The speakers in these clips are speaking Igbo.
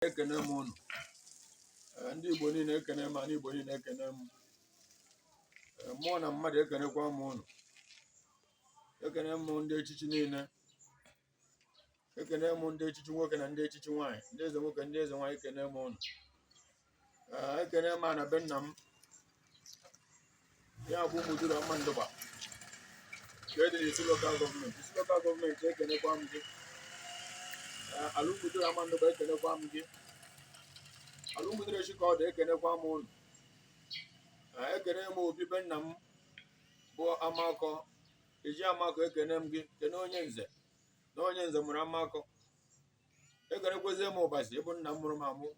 ekene m ụnụ ndị Igbo niile ekene m ana Igbo niile ekene m mmụọ na mmadụ ekenekwa m ụnụ ekene m ndị echichi niile ekene m ndị echichi nwoke na ndị echichi nwaanyị ndị eze nwoke ndị eze nwaanyị ekene m ụnụ ekene m ana be nna m ya bụ Ụmụduru Amandugba nke dị n'Isu lokal gọọmenti Isu lokal gọọmenti ekenekwa m gị ala Ụmụduru Amandugba ekenekwa m gị ala Ụmụduru echi ka ọ dị ekenekwa m ụnụ ekene m obi be nna m bụ Amakọ eji amakọ ekene m gị kene onye nze na onye nze mụrụ Amakọ ekenekwezie m Ụbasi bụ nna m mụrụ m amụ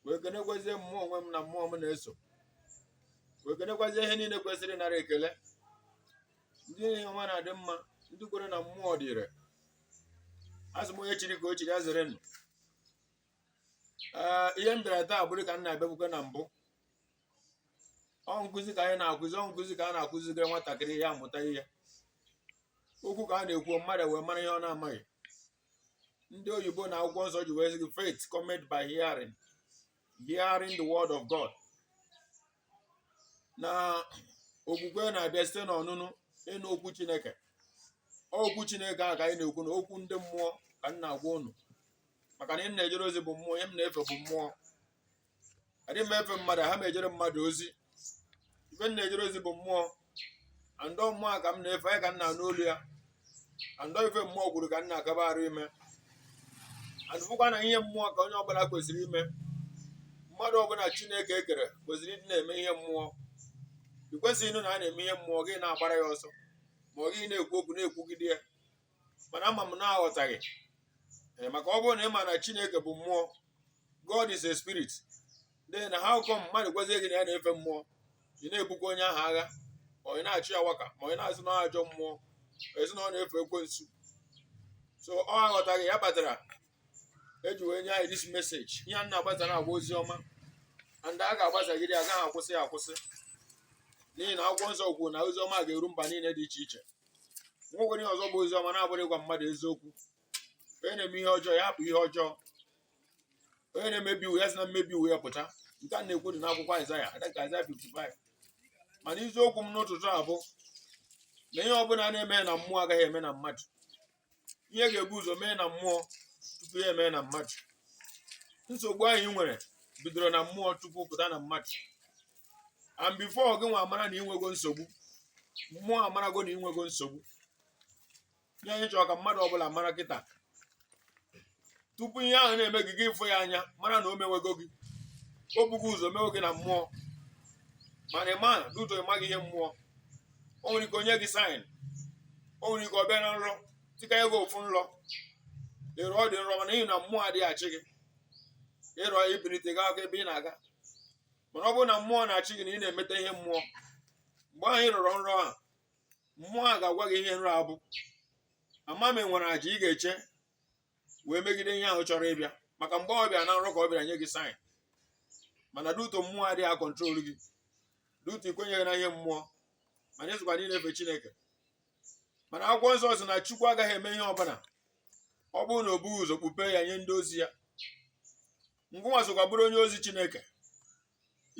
wee kenekwazie mmụọ onwe m na mmụọ m na-eso wee kenekwazie ihe niile kwesịrị ịnara ekele ndị ihe ọma na-adị mma ndị kwere na mmụọ dị ire asị m onye chiri ka o chiri ya zere nụ ee ihe m bịara taa bụrụ ka m na-abịakwukwe na mbụ ọ nkụzi ka anyị na-akụzi ọ nkụzi ka a na-akụzigara nwatakịrị ya amụta ihe okwu ka a na-ekwu mmadụ wee mara ihe ọ na-amaghị ndị oyibo na akwụkwọ nsọ ji wee sị gị faith cometh by hearing hearing the word of God na okwukwe na-abịa site n'ọnụnụ ịnụ okwu Chineke okwu Chineke a ka anyị na-ekwu na okwu ndị mmụọ ka m na-agwa unu maka na ihe m na-ejere ozi bụ mmụọ ihe m na-efe bụ mmụọ adịghị m efe mmadụ aha m ejere mmadụ ozi ife m na-ejere ozi bụ mmụọ and ọ mmụọ a ka m na-efe ya ka m na-anụ olu ya and ọ ife mmụọ kwuru ka m na-akaba arụ ime and ị fụkwa na ihe mmụọ ka onye ọbụla kwesịrị ime mmadụ ọbụla chineke ekere kwesịrị ịdị na-eme ihe mmụọ ị kwesịghị ịnụ na a na-eme ihe mmụọ gị na-agbara ya ọsọ ma ọ gị na-ekwu okwu na-ekwugide ya mana ama m na ọ aghọtaghị Ee, maka ọ bụrụ na ị ma na chineke bụ mmụọ god is a spirit then how come mmadụ gwazie gị na ya na-efe mmụọ ị na-ebukwa onye ahụ agha ma ị na-achị ya waka ma ị na-asị na ọ ajọ mmụọ ị sị na ọ na-efe ekwensu so ọ aghọtaghị ya kpatara eji wee nye anyị this message ihe a na-agbasa na-akpọ ozi ọma and a ga-agbasagide ya agaghị akwụsị ya akwụsị n'ihi na akwụkwọ nsọ kwuru na ozi ọma ga-eru mba niile dị iche iche nwekwere ihe ọzọ bụ ozi ọma na-abụrọ ịgwa mmadụ eziokwu onye na-eme ihe ọjọọ ya hapụ ihe ọjọọ onye na-emebi iwu ya si na mmebi iwu ya pụta nke a na-ekwu dị n'akwụkwọ Aịzaya adịka Aịzaya 55 mana isiokwu m n'ụtụtụ a bụ na ihe ọbụla na-eme na mmụọ agaghị eme na mmadụ ihe ga-ebu ụzọ mee na mmụọ tupu ya emee na mmadụ nsogbu anyị nwere bidoro na mmụọ tupu pụta na mmadụ and before gị nwa amara na inwego nsogbu mmụọ amarago na inwego nsogbu ihe anyị chọrọ ka mmadụ ọbụla mara kịta tupu ihe ahụ na-eme gị gị ịfụ ya anya mara na o mewego gị o bugo ụzọ mewe gị na mmụọ mana ị ma na due to ị maghị ihe mmụọ o nwere ike o nye gị sign o nwere ike ọ bịa na nrọ dịka nye gị ofu nrọ ị rọ ọ dị nrọ mana n'ihi na mmụọ adịghị achị gị ị rọ ya i bilite gaakwa ebe ị na-aga mana ọ bụrụ na mmụọ na-achị gị na ị na-emeta ihe mmụọ mgbe ahụ ị rọrọ nrọ a mmụọ a ga-agwa gị ihe nrọ a bụ ị ma ma e nwere aja ị ga-eche wee megide ihe ahụ chọrọ ịbịa maka mgbe ọ bịara na nrọ ka ọ bịara nye gị sign mana due to mmụọ adịghị akọntrol gị due to i kwenyeghị na ihe mmụọ mana i sokwa ndị na-efe chineke mana akwụkwọ nsọ sị na chukwu agaghị eme ihe ọbụla ọ bụrụ na o bughị ụzọ kpupe ya nye ndị ozi ya ngịnwa sokwa bụrụ onye ozi chineke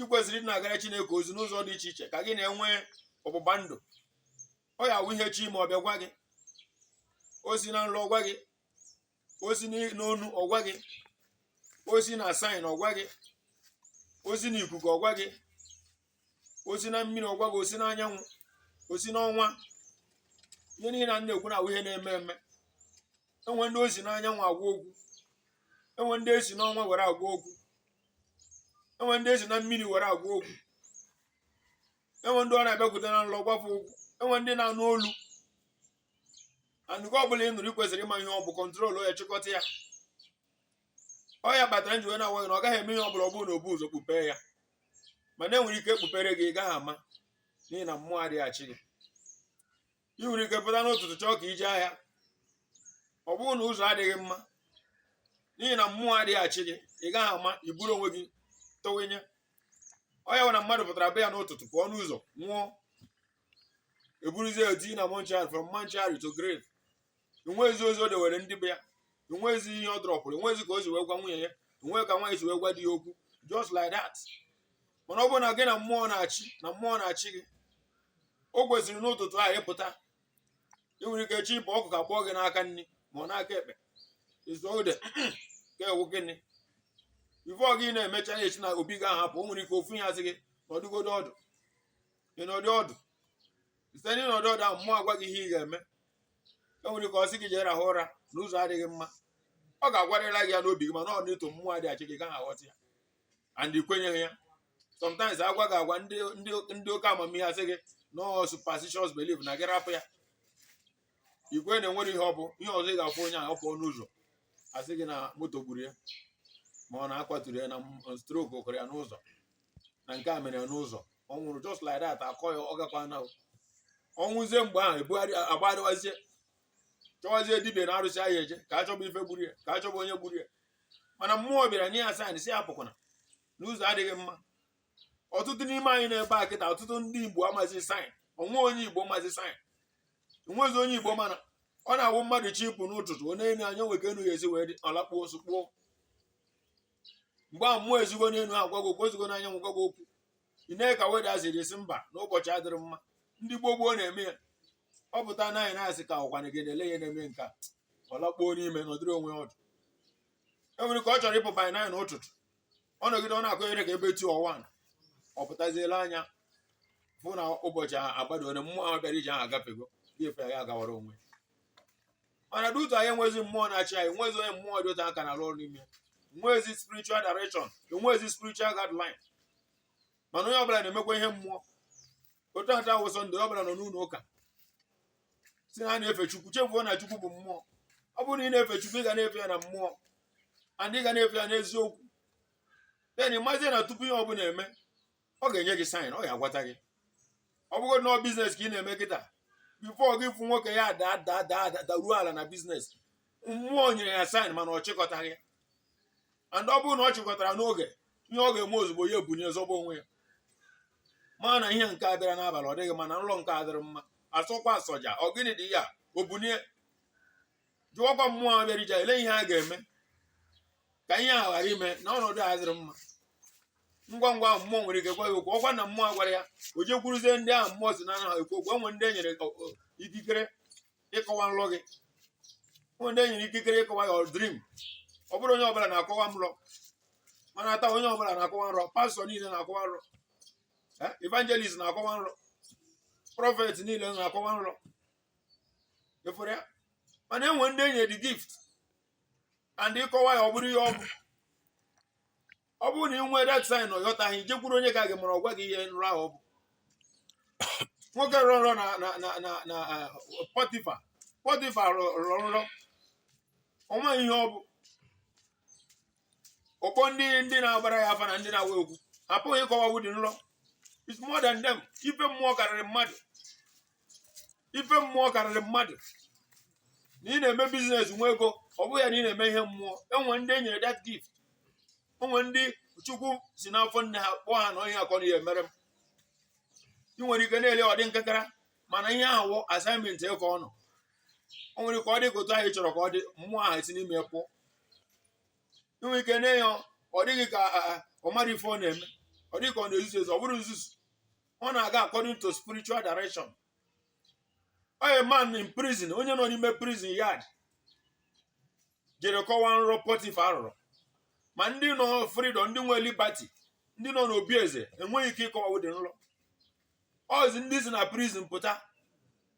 ị kwesịrị ịdị na-agara chineke ozi n'ụzọ dị iche iche ka gị na ya nwee ọgbụgba ndụ ọ ya wụ ihe chọ ime ọ bịa gwa gị o si na nrọ ọ gwa gị o si n'onu ọ gwa gị o si na sign ọ gwa gị o si na ikuku ọ gwa gị o si na mmiri ọ gwa gị o si na anyanwụ o si n'ọnwa ihe niile a m na-ekwu na ọ wụ ihe na-eme eme e nwe ndị o si n'anyanwụ agwa okwu e nwe ndị e si n'ọnwa were agwa okwu e nwe ndị e si na mmiri were agwa okwu e nwe ndị ọ na-abịakwute na nlọ gwa fa okwu e nwe ndị na-anụ olu and nke ọbụla ị nụrụ ị kwesịrị ịma ihe ọ bụ control ya chịkọta ya ọ ya kpatara m ji wee na-agwa gị na ọ gaghị eme ihe ọ bụla ọ bụrụ na o bughị ụzọ kpupee ya mana e nwere ike e kpupere gị ị gaghị ama n'ihi na mmụọ adịghị achị gị i nwere ike pụta n'ụtụtụ chọọ ka i je ahịa ọ bụrụ na ụzọ adịghị mma n'ihi na mmụọ adịghị achị gị ị gaghị ama i buru onwe gị tọwenye ọ ya wụ na mmadụ pụtara be ya n'ụtụtụ pụọ n'ụzọ nwụọ e buruzie eti na mortuary from mortuary to grave enweghịzi ozi o dewere ndị be ya enweghịzi ihe ọ drọpụrụ enweghịzi ka o si wee gwa nwunye ya enweghị ka nwaanyị si wee gwa di ya okwu just like that mana ọ bụrụ na gị na mmụọ na-achị na mmụọ na-achị gị o kwesịrị n'ụtụtụ ahụ ị pụta ị nwere ike chọ ịpụ ụkwụ akpọọ gị n'aka nri ma ọ n'aka ekpe ị sị ọ dịka ọ wụ gịnị before gị na-emecha ya echi na obi gị ahapụ o nwere ike ofu ihe asị gị nọdụgodo ọdụ ị nọdụ ọdụ site n'ịnọdụ ọdụ ahụ mmụọ agwa gị ihe ị ga-eme e nwere ike ọ sị gị jee rahụ ụra na ụzọ adịghị mma ọ ga-agwarịla gị ya n'obi gị mana due to mmụọ adịghị achị gị ị gaghị aghọta ya and i kwenyeghị ya sometimes a gwa gị a gwa ndị ndị ndị oke amamihe asị gị na ọ superstitious belief na gị rapụ ya ikwe na e nwere ihe ọ bụ ihe ọzọ ị ga-afụ onye ahụ ọ pụọ n'ụzọ a sị gị na moto gburu ya ma ọ na a kwaturu ya na stroke kụrụ ya n'ụzọ na nke a mere n'ụzọ ọ nwụrụ just like that akọ ya ọ gakwa na ọnwụzie mgbe ahụ ebugharị agbagharịwazie chọwazie dibia na arụsị a ya-eje ka achọba ife gburu ya ka achọba onye gburu ya mana mmụọ bịara nye ya saịn si ya apụkwana na ụzọ adịghị mma ọtụtụ n'ime anyị nọ ebe a kịta ọtụtụ ndị igbo amazi saịn onwezi onye igbo mazi saịn enwezi onye igbo mana ọ na-awụ mmadụ chọ ịpụ n'ụtụtụ o nenie anya nee ka enuigwe si wee dị ọ lakpuo nsụ kpuo mgbe ahụ mmụọ esigo n'elu gwa gị okwu esigo n'anyanwụ gwa gị okwu i nee ka weda si dị si mba na ụbọchị adịrọ mma ndị gboo gboo na-eme ya ọ pụta nee anya na sky ọkwana gị na-ele ya na-eme nke a ọ lakpuo n'ime nọdụrụ onwe ya ọdụ o nwere ike ọ chọrọ ịpụ by nine n'ụtụtụ ọ nọgide ọ na-akụnyere ka ebe two or one ọ pụtazie lee anya fụ na ụbọchị agbado ole mmụọ ahụ bịara ije ahụ agafego o yie efe ya gawara onwe mana due to anyị enwezi mmụọ na-achị anyị enwezi onye mmụọ dị ụtọ aka na-arụ ọrụ n'ime enwezi spiritual direction enwezi spiritual guideline mana onye ọbụla na-emekwa ihe mmụọ otu taa wụ sọnde ọbụla nọ n'ụlọ ụka si na ha na-efe chukwu chefuo na chukwu bụ mmụọ ọ bụrụ na ị na-efe chukwu ị ga na-efe ya na mmụọ and ị ga na-efe ya n'eziokwu then ị mazie na tupu ihe ọbụla eme ọ ga-enye gị saịn ọ ga-agwata gị ọ bụgodị na ọ biznes ka ị na-eme kịta bifo gị fụ nwoke ya daa daa daa da- daruo ala na biznes mmụọ nyere ya saịn mana ọ chịkọtaghị ya and ọ bụrụ na ọ chịkọtara n'oge ihe ọ ga-eme ozugbo ya ebunie zọba onwe ya ma na ihe nke a bịara n'abalị ọ dịghị mma na nlọ nke a adịrọ mma asọkwa asọja ọ gịnị dị ya o bunie jụọkwa mmụọ ahụ bịara ije ele ihe a ga-eme ka ihe ahụ ghara ime na ọnọdụ adịrọ mma ngwa ngwa ahụ mmụọ nwere ike gwa ya okwu ọkwa na mmụọ agwarọ ya o jekwuruzie ndị ahụ mmụọ si n'ọnụ ha ekwu okwu enwe ndị e nyere ikikere ịkọwa nlọ gị enwe ndị e nyere ikikere ịkọwa your dream ọ bụrọ onye ọbụla na-akọwa nlọ mana taa onye ọbụla na-akọwa nrọ pastọ niile na-akọwa nrọ evangelist na-akọwa nrọ prọfet niile na-akọwa nrọ everywhere mana enwe ndị e nyere the gift and ị kọwaa ya ọ bụrụ ihe ọ bụ ọ bụrụ na ị nwee that sign ị yọtaghị jekwuru onye ka gị mara ọ gwa gị ihe nrọ ahụ ọ bụ nwoke rọ nrọ na na na na na ah, pọtifa pọtifa rọrọ nrọ ọ maghị ihe ọ bụ ọ kpọọ ndị ndị na-agbara ya afa na ndị na-agwọ ọgwụ apụghị ịkọwa ụdị nlọ is more than them ife mmụọ karịrị mmadụ ife mmụọ karịrị mmadụ na ị na-eme biznes nwee ego ọ bụghị ya na ị na-eme ihe mmụọ enwe ndị enyere that gift enwe ndị chukwu si n'afọ nne ha kpọọ ha na ọ ihe a ka ọ na-aya emere m ị nwere ike na-ele ọ dị nkekara mana ihe ahụ wụ assignment ka ọ nọ o nwere ike ọ dị ka otu ahụ ị chọrọ ka ọ dị mmụọ ahụ esi n'ime pụọ inwe ike na ya ọ dịghị ka ọ mara ife ọ na-eme ọ dị gị ka ọ na-ezuzu ezu ọ bụrọ nzuzu ọ na-aga according to spiritual direction a man in prison onye nọ n'ime prison yard jere kọwaa nrọ Pọtịfa rọrọ ma ndị nọ freedom ndị nwe liberty ndị nọ n'obi eze enweghị ike ịkọwa ụdị nrọ ọzi ndị si na prison pụta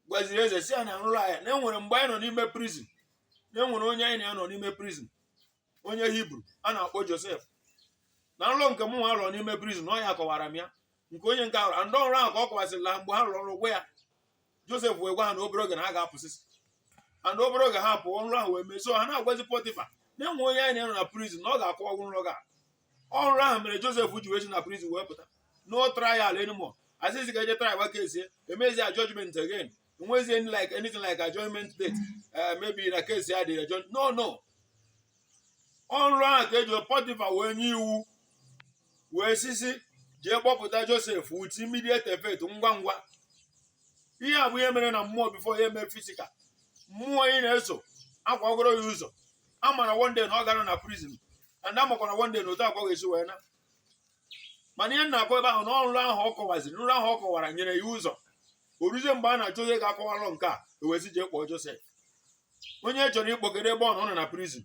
gwaziri eze sị ya na nrọ ahụ na enwere mgbe anyị nọ n'ime prison na enwere onye anyị na ya nọ n'ime prison onye hibru a na-akpọ josef na nrọ nke mụ nwa rọrọ n'ime prison na ọ ya kọwara m ya nke onye nke ahụ ndị ọrụ ahụ ka ọ kọwasịịrị ha mgbe ha rọrọ nrọ gwa ya josef wee gwa ha na obere oge na ha ga-apụsịsị and obere oge ha pụọ nrọ ahụ wee mee so ha na-agwazi pọtịfa na enwere onye anyị na ya nọ na prison na ọ ga-akọwanwu nrọ gị a ọ nrọ ahụ mere Josef ji wee si na prison wee pụta no trial anymore asịzị ka e jee trial gbaka ezie emezi a judgment again enwezi any like anything like adjournment date eh, maybe na case ya dị adjourn no no ọ nrọ ahụ ka eji Pọtịfa wee nye iwu wee sị sị jee kpọpụta Josef with immediate effect ngwa ngwa ihe a bụ ihe mere na mmụọ before ya eme physical mmụọ ị na-eso akwagoro ya ụzọ a mara one day na ọ gara na prison and amakwa na one day na otu a ka ọ ga-esi wee naa mana ihe na-akọ ebe ahụ na ọ nrọ ahụ ọ kọwaziri nrọ ahụ ọ kọwara nyere ya ụzọ o ruzie mgbe a na-achọ onye ga-akọwalụ nke a e wezie jee kpọọ Josef onye chọrọ ịkpọgide ebe ọ nọ ọ nọ na prison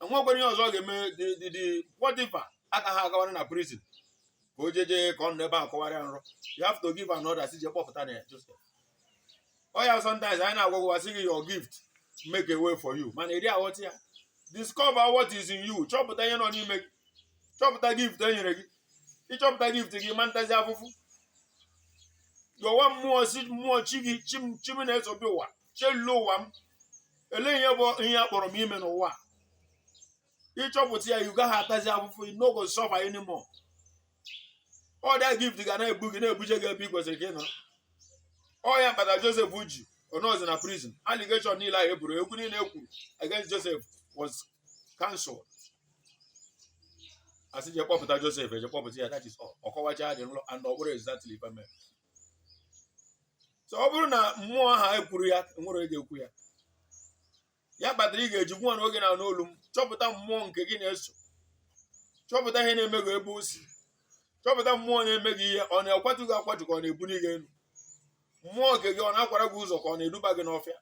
enwekwara ihe ọzọ ọ ga-eme the the the Pọtịfa agaghị agawara na prison ka o jeje ka ọ nọ ebe a kọwara ya nrọ you have to give an order sị jee kpọpụta na Josef ọ ya sometimes anyị na-agwagwasị gị your gift make a way for you mana ị dị aghọta ya discover what is in you chọpụta ihe nọ n'ime gị chọpụta gift e nyere gị ịchọpụta gift gị ị ma atazi afụfụ yọwa mmụọ sị mmụọ chi gị chi m chi m na-eso bịa ụwa chelule ụwa m elee ihe bụ ihe a kpọrọ m ime n'ụwa a? ịchọpụta ya ị gaghị atazi afụfụ you no go suffer anymore ọ the gift ga na-ebu gị na-ebuje gị ebe ị kwesịrị ka ị nọ ọ ya kpatara Joseph ji ọnọzi na prison allegation niile ahụ e boro okwu niile e kwuru against Joseph was cancelled asị je kpọpụta Joseph eje kpọpụta ya that is all ọ kọwacha the nrọ and ọ bụrụ exactly ife mere so ọ bụrụ na mmụọ ahụ ekwurọ ya nwere onye ga-ekwu ya ya kpatara ị ga-eji nwa na oge na-anụ olu m chọpụta mmụọ nke gị na-eso chọpụta ihe na-eme gị ebe o si chọpụta mmụọ na-eme gị ihe ọ na-akwatu gị akwatu ka ọ na-ebuli gị elu mmụọ nke gị ọ na-akwara gị ụzọ ka ọ na-eduba gị n'ọfịa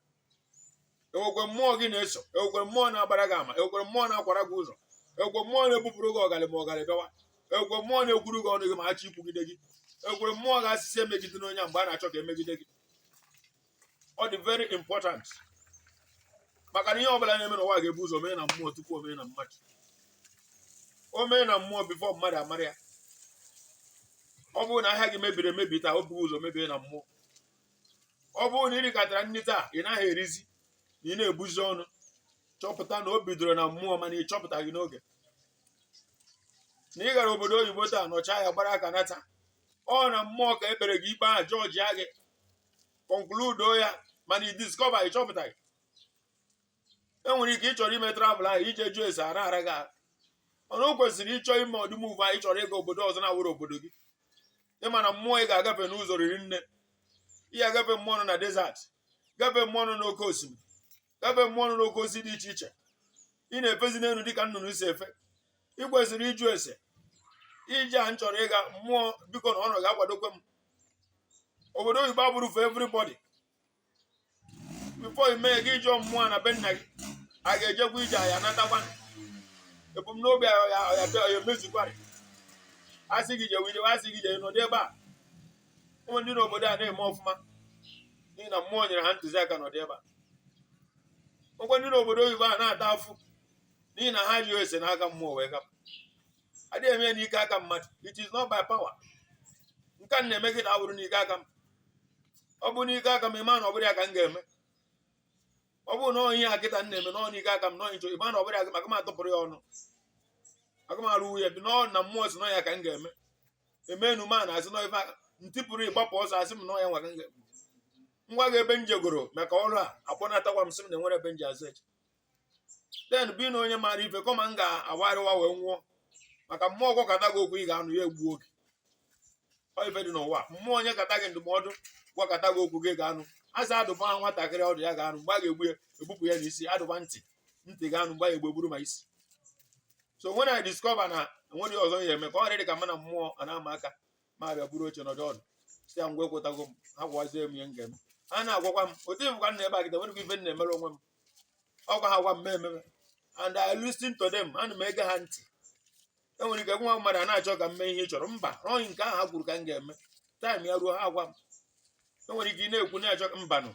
enwekwe mmụọ gị na-eso enwekwe mmụọ na-agbara gị ama enwekwe mmụọ na-akwara gị ụzọ enwekwe mmụọ na-ebupụrụ gị ọgalị ma ọgalị bịawa enwekwe mmụọ na-ekwuru gị ọnụ gị ma achọ ikwugide gị enwekwe mmụọ ga-asị sị emegidena onye mgbe a na-achọ ka emegide gị ọ dị very important maka na ihe ọbụla na-eme n'ụwa ga-ebu ụzọ mee na mmụọ tupu o mee na mmadụ o mee na mmụọ before mmadụ amara ya ọ bụrụ na ahịa gị mebiri emebi taa o bugo ụzọ mebie na mmụọ ọ bụrụ na ị rikatara nri taa ị naghị erizi na ị na-ebuzi ọnụ chọpụta na o bidoro na mmụọ mana ị chọpụtaghị n'oge na ị gara obodo oyibo taa nọchaa ya gbara aka nata ọ na mmụọ ka e kpere gị ikpe ahụ judge gị conclude ya mana ị discover ị chọpụtaghị enwere ike ị chọrọ ime travel ahụ i je jụọ ese ara ara gị ahụ mana o kwesịrị ị chọọ ime ụdị move ahụ ị chọrọ ịga obodo ọzọ na-awụrọ obodo gị ị ma na mmụọ ị ga-agafe n'ụzọ riri nne ị ga-agafe mmụọ nọ na desert gafe mmụọ nọ n'oke osimiri gafe mmụọ nọ n'oke osisi dị iche iche ị na-efezi n'elu dịka nnụnụ si efe ị kwesịrị ịjụ ese ije a m chọrọ ịga mmụọ biko na unu ga-akwadokwe m obodo oyibo abụrọ for everybody before ị mee gị jụọ mmụọ na be nna gị a ga-ejekwa ije a ya-anatakwa ebumnobi ya emezukwara a sị gị jewe i jewe a sị gị jee nọdụ ebe a ụmụ ndị n'obodo a na-eme ọfụma n'ihi na mmụọ nyere ha ntụziaka nọdụ ebe a ọ kwa ndị n'obodo oyibo a na-ata afụ n'ihi na ha ajụrọ ese n'aka mmụọ wee gapụ adịghị eme n'ike aka mmadụ it is not by power nke a m na-eme kịta awụrọ n'ike aka m ọ bụ n'ike aka m ị ma na ọ bụrọ ya ka m ga-eme ọ bụrụ na ọ ihe a kịta m na-eme na ọ n'ike aka m na ọ ihe m chọ ị ma na ọ bụrọ ya maka m atụpụrọ ya ọnụ aka m arọ ya bi na ọ na mmụọ sị na ọ ya ka m ga-eme emenu ma na-asị na ife aka ntị pụrụ ịgbapụ ọsọ a sị m na ọ ya nwa ka m ga-eme ngwa gị ebe m jegoro maka ọrụ a akpọnatakwa m sị m na enwere ebe m ji azụ eche then bụ na onye maara ife kọma m ga-agwarịwa wee nwụọ maka mmụọ gwakata gị okwu ị ga-anụ ya egbuo gị ọ ife dị n'ụwa mmụọ nyekata gị ndụmọdụ gwakata gị okwu gị ga-anụ a sị a dụba nwatakịrị ọdụ ya ga-anụ mgbe a ga-egbu ya egbupụ ya n'isi a dụba ntị ntị ga-anụ mgbe a ya-egbu e gburu ma isi so when I discover na enweghị ihe ọzọ ya eme ka ọ dị ka mụ na mmụọ a na-ama aka mụ abịa buru oche nọdụ ọdụ sị ya ngwa ekwetago m ha gwazie m ihe m ga-eme ha na-agwakwa m otu ị hụkwa m n'ebe a kịta enwerọ ife m na-emere onwe m ọ kwa ha gwa m mee m emee and I listen to them ana m ege ha ntị enwere ike nwa mmadụ a na-achọ ka m mee ihe ị chọrọ mba ọ nke ahụ ha kwuru ka m ga-eme time ya ruo ha agwa m enwere ike ị na-ekwu na-achọ mbanụ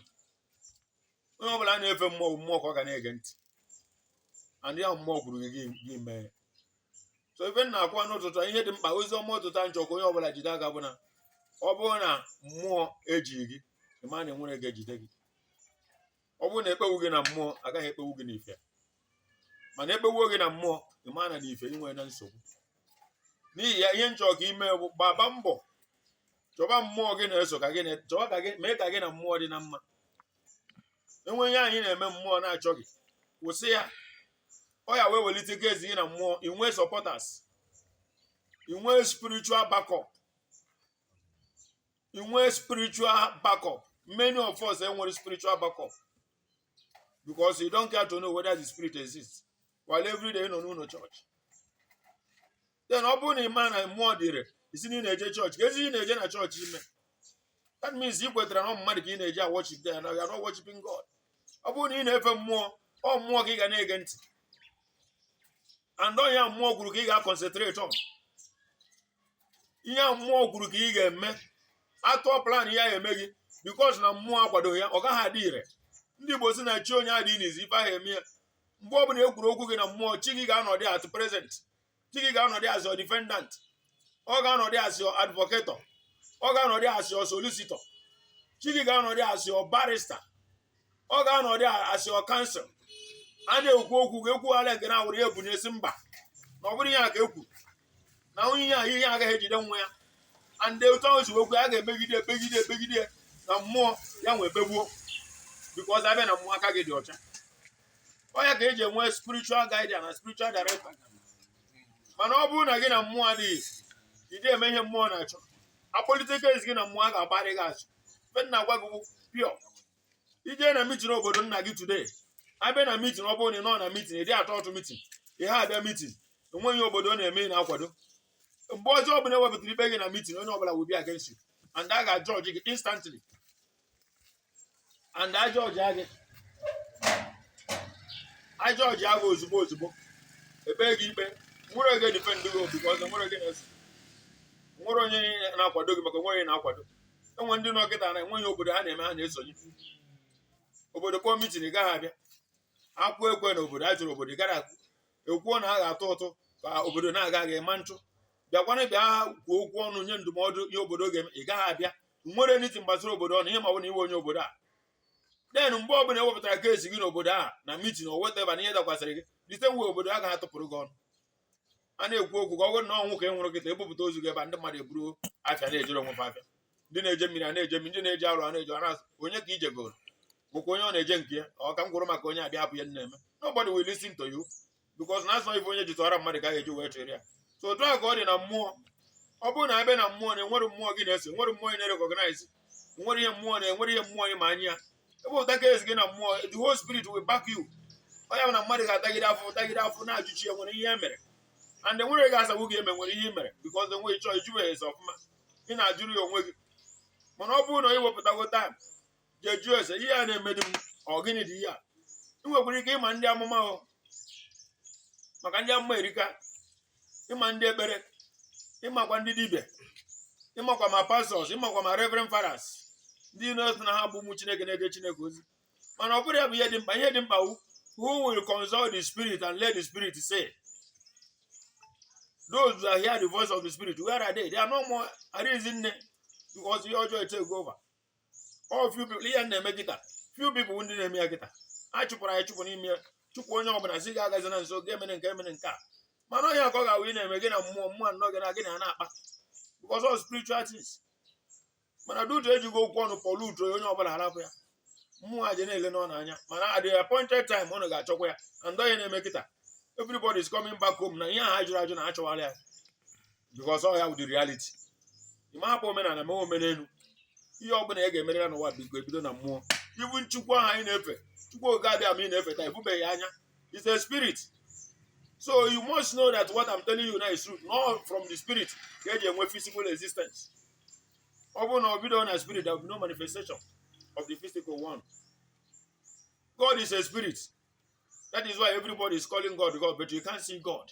onye ọ bụla na-efe mmụọ mmụọ ka ọ ga na-ege ntị and ihe mmụọ kwuru gị gị mee so ife m na-ekwu n'ụtụtụ a ihe dị mkpa ozi ọma ụtụtụ a nchọ ka onye ọbụla jide aka bụ na ọ bụrụ na mmụọ ejighị gị ị ma na enwere ga-ejide gị ọ bụrụ na ekpewu gị na mmụọ agaghị ekpewu gị n'ife mana ekpewuo gị na mmụọ ị ma na n'ife ị nwena nsogbu n'ihi ya ihe nchọ ka i mee bụ gbaba mbọ chọba mmụọ gị na-eso ka gị na chọba ka gị mee ka gị na mmụọ dị na mma enwe ihe anyị na-eme mmụọ na-achọghị kwụsị ya ọ ya wee welite case gị na mmụọ i nwee supporters i nwee spiritual backup i nwee spiritual backup many of us enwere spiritual backup because you don't care to know whether the spirit exists while every day ị nọ n'ụlọ chọọchị then ọ bụrụ na ị ma na mmụọ dịrị ị sị na ị na-eje chọọchị kezi ị na-eje na chọọchị ime that means ị kwetara na ọ mmadụ ka ị na-eje aworship there and you are not worshiping God ọ bụrụ na ị na-efe mmụọ ọ mmụọ ka ị ga na-ege ntị and ọ ihe mmụọ kwuru ka ị ga-aconcentrate on ihe mmụọ kwuru ka ị ga-eme atụọ plan ya eme gị because na mmụọ akwado ya ọ gaghị adị ire ndị Igbo si na chi onye adị n'izu ife ahụ eme ya mgbe ọ bụla ekwuru okwu gị na mmụọ chi gị ga-anọdị at present chi gị ga-anọdị as your defendant ọ ga-anọdị as your advocate ọ ga-anọdị as your solicitor chi gị ga-anọdị as your barrister ọ ga-anọdị as your counsel a na-ekwu okwu gị ekwu ala nke na-awụrụ ya ebunie sị mba na ọ bụrụ ihe a ka ekwu na onye ihe a ihe agaghị ejide nwa ya and otu ahụ si okwu a ga-emegide emegide emegide na mmụọ ya nwee begbuo because abịa na mmụọ aka gị dị ọcha ọ ya ka e ji enwe spiritual guide na spiritual director mana ọ bụrụ na gị na mmụọ adịghị ị dị eme ihe mmụọ na-achọ akpọlite case gị na mmụọ a ga-agbara gị ọsọ ife m na-agwa gị pure i jee na meeting obodo nna gị today abịa na meeting ọ bụrụ na ị nọ na meeting ị dị atụ ụtụ meeting ị dị abịa meeting enweghị ihe obodo na-eme ị na-akwado mgbe ọjọọ ọbụla ewepụtara ikpe gị na meeting onye ọbụla will be against you and a ga-ajudge gị instantly and a judge gị a judge gị ozugbo ozugbo ebee gị ikpe nwere ga-edefend gị because nwere ị na-eso nwere onye na-akwado gị maka nwere onye na-akwado enwe ndị nọ kịta na enweghị obodo ha na-eme ha na-esonye obodo kpọọ meeting ị gaghị abịa akụọ ekwe n'obodo a chọrọ obodo ị gara akwụ ekwuo na a ga-atụ ụtụ ka obodo na-aga ị ma atụ bịakwana bịa kwuo okwu ọnụ nye ndụmọdụ ihe obodo ga-eme ị gaghị abịa nwere anything gbasara obodo ọnụ ihe ma ọ bụ na ị wụ onye obodo a then mgbe ọbụla ewepụtara case gị n'obodo a na meeting o wetaba na ihe dakwasịrị gị rite nwe obodo a ga-atụpụrụ gị ọnụ a na-ekwu okwu gị ọ bụrụ na ọnwụ ka ị nwụrụ kịta ebupụta ozu gị ebe ndị mmadụ eburu afịa na-ejere onwe ha afịa ndị na-eje mmiri a na-eje mmiri ndị na-eje ọrụ a na-eje ọrụ onye ka ije goro bụkwa onye ọ na-eje nke ya ọ ka m kwuru maka onye abịa hapụ ya na-eme nobody will listen to you because na a sị ife onye ji tụara mmadụ ka a ga-eji wee chụrụ ya so otu a ka ọ dị na mmụọ ọ bụrụ na a bịa na mmụọ na enwere mmụọ gị na-eso enwere mmụọ ị na-recognize enwere ihe mmụọ na enwere ihe mmụọ ị ma anya ya ebe ụta ka ezi gị na mmụọ the whole spirit will back you ọ ya bụ na mmadụ ga-atagide afụfụ tagide afụfụ na-ajụ chi ya nwere ihe e mere and enwere gị asagbu gị eme nwere ihe i mere because enweghị chọọ ị jụbeghị ese ọfụma ị na-ajụrụ ya onwe gị mana ọ bụrụ na ị wepụtago time jee jụọ ese ihe a na-emedi m ọ gịnị dị ihe a ị nwekwara ike ịma ndị amụma o maka ndị amụma erika ịma ndị ekpere ịmakwa ndị dibịa ịmakwa ma pastors ịmakwa ma reverend fathers ndị na-asị na ha bụ ụmụ chineke na-eje chineke ozi mana ọ bụrụ ya bụ ihe dị mkpa ihe dị mkpa wụ who will consult the spirit and let the spirit say those that hear the voice of the spirit where are they they are no more arịzi nne because ihe ọjọọ etakego over ọ few people ihe na-eme kịta few people ndị na-eme ya kịta a chụpụrụ anyị chụpụ n'ime chụpụ onye ọbụla sị gị agazina nso gị emena nke emena nke a mana onye ka ọ ga-awụ ị na-eme gị na mmụọ mmụọ anọ gị na gị na ya na-akpa because of spiritual things mana due to e jigo okwu ọnụ pollute onye ọbụla a rapụ ya mmụọ a ji na-ele ụnụ anya mana at the appointed time ụnụ ga-achọkwa ya and ọ ya na-eme kịta everybody is coming back home na ihe a ha jụrụ ajụ na a chọwara ya because ọ ya bụ the reality ị ma hapụ omenala ma omenelu ihe ọbụla ị ga-emere ya n'ụwa biko ebido na mmụọ even chukwu ahụ anyị na-efe chukwu okike abịama ị na-efe taa ị fụbeghị ya anya is a spirit so you must know that what I'm telling you now is true na ọ from the spirit ka e ji enwe physical existence ọ bụrụ na o bidorọ na spirit there will be no manifestation of the physical one God is a spirit that is why everybody is calling God God but you can't see God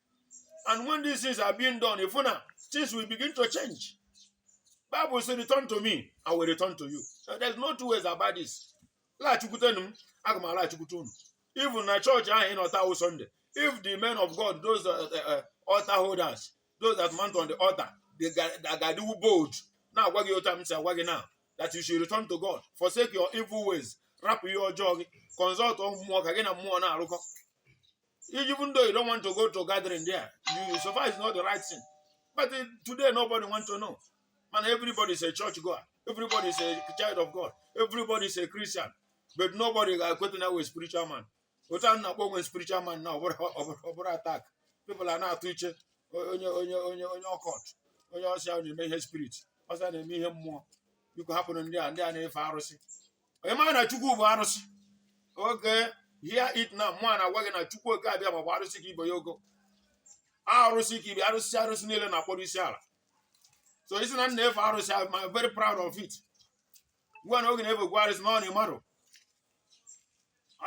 and when these things are being done ị fụ na things will begin to change bible say return to me i will return to you so there's no two ways about this laghachikwutenụ m aga m alaghachikwute unu even na church ahụ ị nọ taa wụ sunday if the men of god those uh, uh, uh, altar holders those that mount on the altar they ga- that ga-adịnwu bold na-agwa gị otu a m si agwa gị now that you should return to god forsake your evil ways rapụ ihe ọjọọ gị consult mmụọ ka gị na mmụọ na-arụkọ Even though you don't want to go to gathering there, you, so far it's not the right thing. But uh, today nobody wants to know. Mana everybody is a church goer. Everybody is a child of God. Everybody is a Christian. But nobody ga-ekweta na ọ wụ spiritual man. Otu a na-akpọ onwe spiritual man na ọ bụrụ attack. People a na-atụ iche onye onye onye onye occult onye ọ sị ya na-eme ihe spirit ọ sị ya na-eme ihe mmụọ biko hapụrụ ndị a ndị a na-efe arụsị ị maghị na chukwu bụ arụsị okay hear it now mụ a na-agwa gị na chukwu oke abịama bụ arụsị ka ibe ya ogo arụsị ka ibe arụsị arụsị niile na-akpọrọ isi ala so ị sị na m na-efe arụsị I'm I'm very proud of it ngwa na ọ gị na-efekwa arụsị mana ị marọ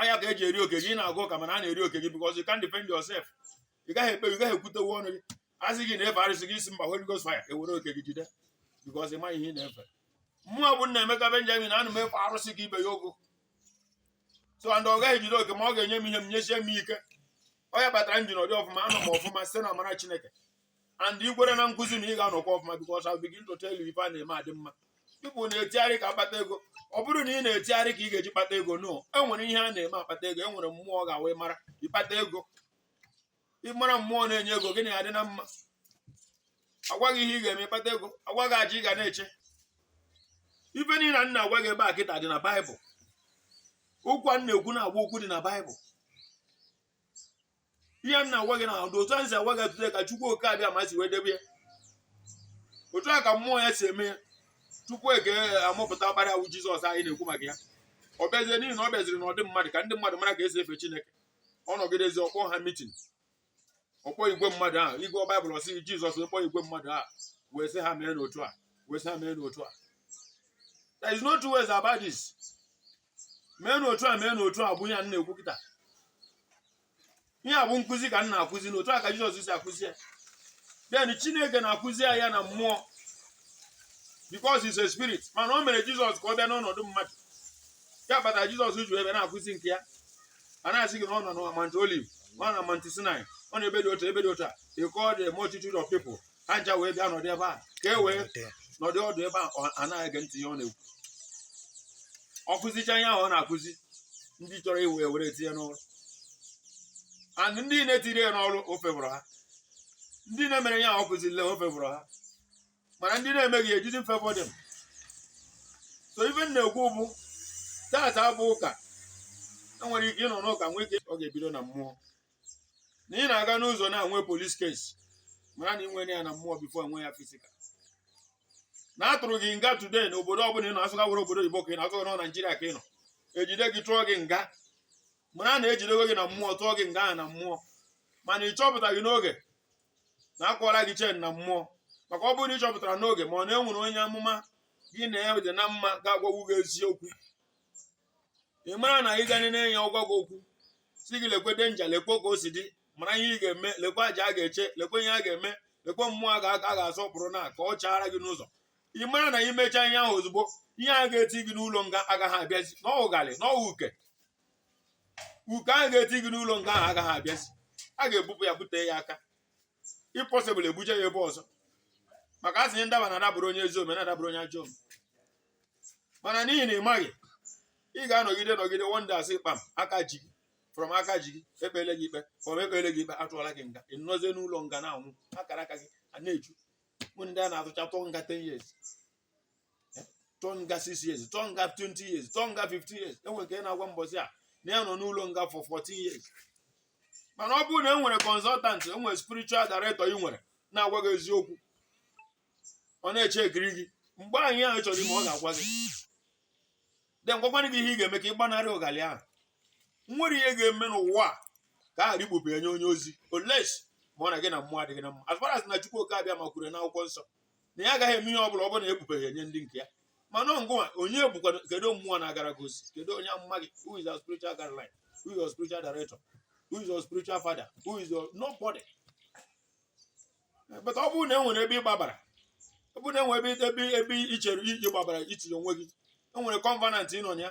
ọ ya ka eji eri oke gị ị na-aga ụka mana a na-eri oke gị because you can't defend yourself ị gaghị ekpe ị gaghị ekwutenwu onwe gị asị gị ị na-efe arụsị gị asị mba Holy Ghost fire ewere oke gị jide because ị maghị ihe ị na-efe mụ a bụ Nnaemeka Benjamin ana m efe arụsị ka ibe ya ogo so and ọ gaghị ejide oke m ọ ga-enye m ihe m nyesie m ike ọ ya kpatara m ji nọdụ ọfụma anọ m ọfụma site na amara Chineke and ị kwere na nkụzi m ị ga-anọkwa ọfụma because I begin to tell you ife a na-eme adị mma people na-etigharị ka ha kpata ego ọ bụrọ na ị na-etigharị ka ị ga-eji kpata ego no enwere ihe a na-eme akpata ego enwere mmụọ ị ga-ewe mara ịkpata ego ịmara mmụọ na-enye ego gị na-adị na mma agwa gị ihe ị ga-eme ịkpata ego agwa gị aja ị ga na-achụ ife niile m na-agwa gị ebe a kịta dị na baịbụl okwu a m na-ekwu na-abụ okwu dị na baịbụl ihe m na-agwa gị na ụdị otu m si agwa gị ya today ka chukwu oke abịama si wee debe ya otu a ka mmụọ ya si eme ya tupu ọ ka amụpụta ọkpara ya wụ jizọs anyị na-ekwu maka ya ọ bịazie n'ihi na ọ bịaziri n'ụdị mmadụ ka ndị mmadụ mara ka esi efe chineke ọ nọgidezi ọ kpọọ ha mitin ọ kpọọ igwe mmadụ ahụ ị gụọ baịbụl ọ sị jizọs wee kpọọ igwe mmadụ ahụ wee sị ha mee n'otu a wee sị ha mee n'otu a there is no two ways about this mee n'otu a mee n'otu a bụ ihe a m na-ekwu kịta ihe a bụ nkụzi ka m na-akụzi n'otu a ka jizọs si akụzi ya then chineke na-akụzi ya ya na mmụọ because he's a spirit mana o mere jizọs ka ọ bịa n'ọnọdụ mmadụ ya kpatara jizọs ji wee na-akụzi nke ya a na-asị gị na ọ nọ na Mount Olive ọ nọ na Mount Sinai ọ nọ n'ebe dị otu ebe dị otu a he called the multitude of people ha ncha wee bịa nọdụ ebe a ka e wee nọdụ ọdụ ebe a ọha na-ege ntị ihe ọ na-ekwu ọ kụzicha ihe ahụ ọ na-akụzi ndị chọrọ iwe ya were tinye n'ọrụ and ndị na-etiri ya n'ọrụ ọ favourrụ ha ndị na-emere ihe ọ kụziri ọ favourrụ ha mana ndị na-emeghị it didn't favour them so ife m na-ekwu bụ taata bụ ụka enwere ike ịnọ n'ụka nwee ike ọ ga-ebido na mmụọ na ị na-aga n'ụzọ na-enwe police case mara na ị nwere ya na mmụọ before enwe ya physical na atụrụ gị nga today na obodo ọbụla ị nọ asịkwa were obodo oyibo ka ị nọ asịkwa na ọ naijiria ka ị nọ ejide gị tụọ gị nga mara na ejidego gị na mmụọ tụọ gị nga ahụ na mmụọ mana ị chọpụtaghị n'oge na akwọla gị chain na mmụọ maka ọ bụrụ na ị chọpụtara n'oge ma ọ na e nwere onye amụma gị na ya dị na mma ga-agwagwu gị eziokwu ị mara na ị ga na-enye ọ gwa gị okwu sị gị lekwe danger lekwe ka o si dị mara ihe ị ga-eme lekwe aja a ga-achụ lekwe ihe a ga-eme lekwe mmụọ a ga-asọpụrụ na ka ọ chaara gị n'ụzọ ị mara na imechaa ihe ahụ ozugbo ihe a ga-eti gị n'ụlọ nga agaghị abịazi na ọ wụ ụgalị na ọ wụ uke uke ahụ ga-eti gị n'ụlọ nga ahụ agaghị abịazi a ga-ebupụ ya bute ya aka if possible ebuje ya ebe ọzọ maka a sị ndaba na-adabụrụ onye ezi ome na-adabụrụ onye ajọ ome mana n'ihi na ị maghị ị ga-anọgide nọgide one day a sị kpam aka ji gị from aka ji gị ekpele gị ikpe from ekpele gị ikpe atụọla gị nga ị nọzie n'ụlọ nga na-anwụ akara aka gị a na-eju mụ ndị a na-atụcha tụọ nga 10 years tụọ nga 6 years tụọ nga 20 years tụọ nga 15 years enwere nke na-agwa m mbọsị a na ya nọ n'ụlọ nga for 14 years mana ọ bụrụ na e nwere consultant e nwere spiritual director ị nwere na-agwa gị eziokwu ọ na-eche ekiri gị mgbe ihe ahụ chọrọ ime ọ ga-agwa gị then gwakwana gị ihe ị ga-eme ka ị gbanarị ụgalị ahụ nwere ihe ga-eme n'ụwa a ka a ghara ikpube ya nye onye ozi unless ma ọ na gị na mmụọ adịghị na mma as far as na Chukwu Oke Abịama kwuru n'akwụkwọ nsọ na ya agaghị eme ihe ọ bụla ọ bụrụ na ekpubeghị ya nye ndị nke ya mana ngụwa onye bụkwa kedu mmụọ na-agara gị ozi kedu onye amụma gị who is your spiritual guideline who is your spiritual director who is your spiritual father who is your nobody but ọ bụrụ na e nwere ebe ị gbabara ọ bụrụ na enwere ebe i chere i ji gbabara i tinye onwe gị enwere covenant ị nọ na ya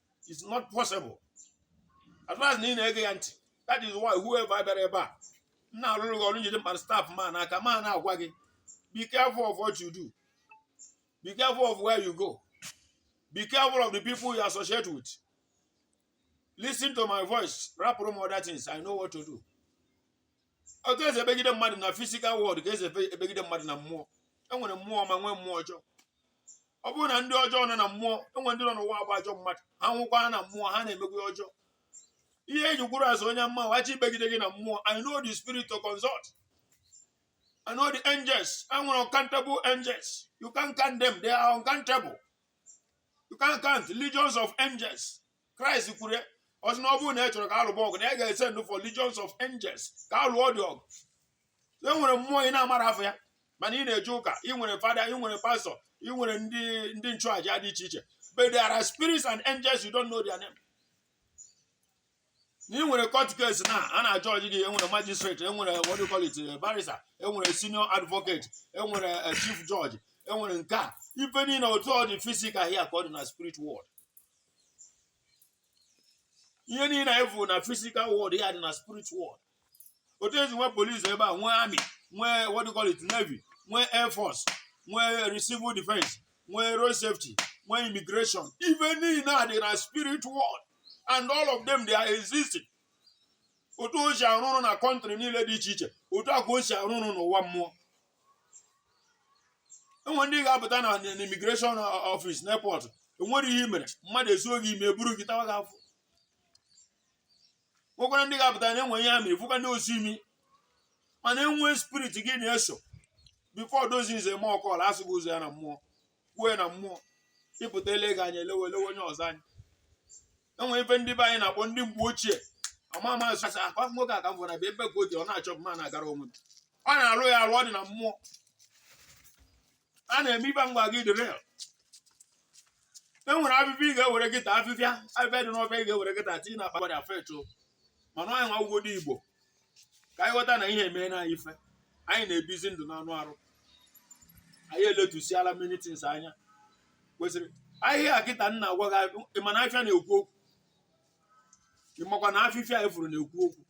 it's not possible as far as na ị na-ege ya ntị that is why whoever bịara ebe a m na-arụrụ gị ọrụ m jide mkpara staff m a n'aka m na-agwa gị be careful of what you do be careful of where you go be careful of the people you associate with listen to my voice rapụrụ m other things i know what to do otu esi ebegide mmadụ na physical world ka esi ebe- ebegide mmadụ na mmụọ enwere mmụọ ọma nwee mmụọ ọjọọ ọ bụrụ na ndị ọjọọ nọ na mmụọ enwe ndị nọ n'ụwa abụ ajọ mmadụ ha nwụkwa na mmụọ ha na-emekwu ọjọọ ihe eji kwuru a sị onye mma wa chọ ibegide gị na mmụọ i know the spirit to consult i know the angels e nwere uncountable angels you can't count them they are uncountable you can't count legions of angels Christ kwuru ọ sị na ọ bụrụ na ya chọrọ ka a lụba ọgụ na ya ga-esend for legions of angels ka a lụọdị ọgụ e nwere mmụọ ị na-amarọ afa ya mana ị na-eje ụka ị nwere fada ị nwere pastor ị nwere ndị ndị nchụaja dị iche iche but there are spirits and angels you don't know their name na ị nwere court case na a na-ajudge gị enwere magistrate enwere what do you call it eh, barrister enwere senior advocate enwere eh, chief judge enwere nke a ife niile otu ọ dị physical here ka ọ dị na spirit world ihe niile anyị fụrụ na physical world ya dị na spirit world otu esi nwee police ebe a nwee army nwee what do you call it navy nwee air force nwee civil defense nwee road safety nwee immigration ife niile a dị na spirit world and all of them they are existing otu o si arụ ọrụ na country niile dị iche iche otu a ka o si arụ ọrụ n'ụwa mmụọ enwe ndị ga-apụta na immigration office n'airport enwere ihe i mere mmadụ esie gị imi eburu gị tawa gị afọ nwekwara ndị ga-apụta na enwe ihe ha mere ịfụkwa ndị osi imi mana enwe spirit gị na ya so before those things eme ọkọla asụ gị ụzọ ya na mmụọ kwue na mmụọ ịpụta ele gị anya elewe elewe onye ọzọ anyị enwe ife ndị be anyị na-akpọ ndị mgbe ochie ama ama asụ asụ akwa nwoke a ka m gwara bụ ebe ka o ji ọ na-achọ mma na-agara onwe m ọ na-alụ ya alụ ọ dị na mmụọ a na-eme ife m gwa gị dị real e nwere afịfịa ị ga-ewere kịta afịfịa afịfịa dị n'ọfịa ị ga-ewere kịta tinye na akpa gwadị afọ eto mana anyị nwa bụ ndị igbo ka anyị ghọta na ihe emee na anyị ife anyị na-ebizi ndụ n'anụ arụ anyị eletusiala many things anya kwesịrị ahịhịa kịta m na-agwa gị ịma na afịfịa na-ekwu okwu ịmakwa na afịfịa ị fụrụ na-ekwu okwu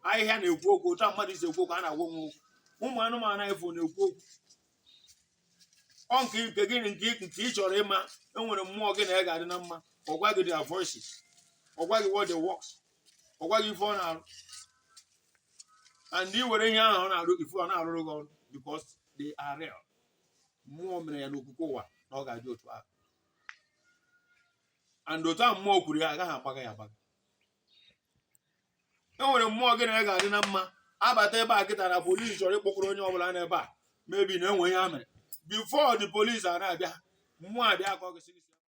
ahịhịa na-ekwu okwu otu a mmadụ si ekwu okwu a na-agwa onwe okwu ụmụ anụmanụ anyị fụ na-ekwu okwu ọ nke nke gị na nke nke ị chọrọ ịma enwere mmụọ gị na ya ga-adị na mma ọ gwa gị their voices ọ gwa gị what they works ọ gwa gị ife ọ na-arụ and ị were ihe ahụ ọ na-arụ ife ọ na-arụrụ gị ọrụ because they are real mmụọ mere ya n'okike ụwa na ọ ga-adị otu ahụ and otu ahụ mmụọ kwuru ya agaghị agbagha ya agbagha e nwere mmụọ gị na ya ga-adị na mma abata ebe a kịta na police chọrọ ịkpọkọrọ onye ọbụla n'ebe a maybe na enwe ihe ha mere before the police a na-abịa mmụọ abịa akọ gị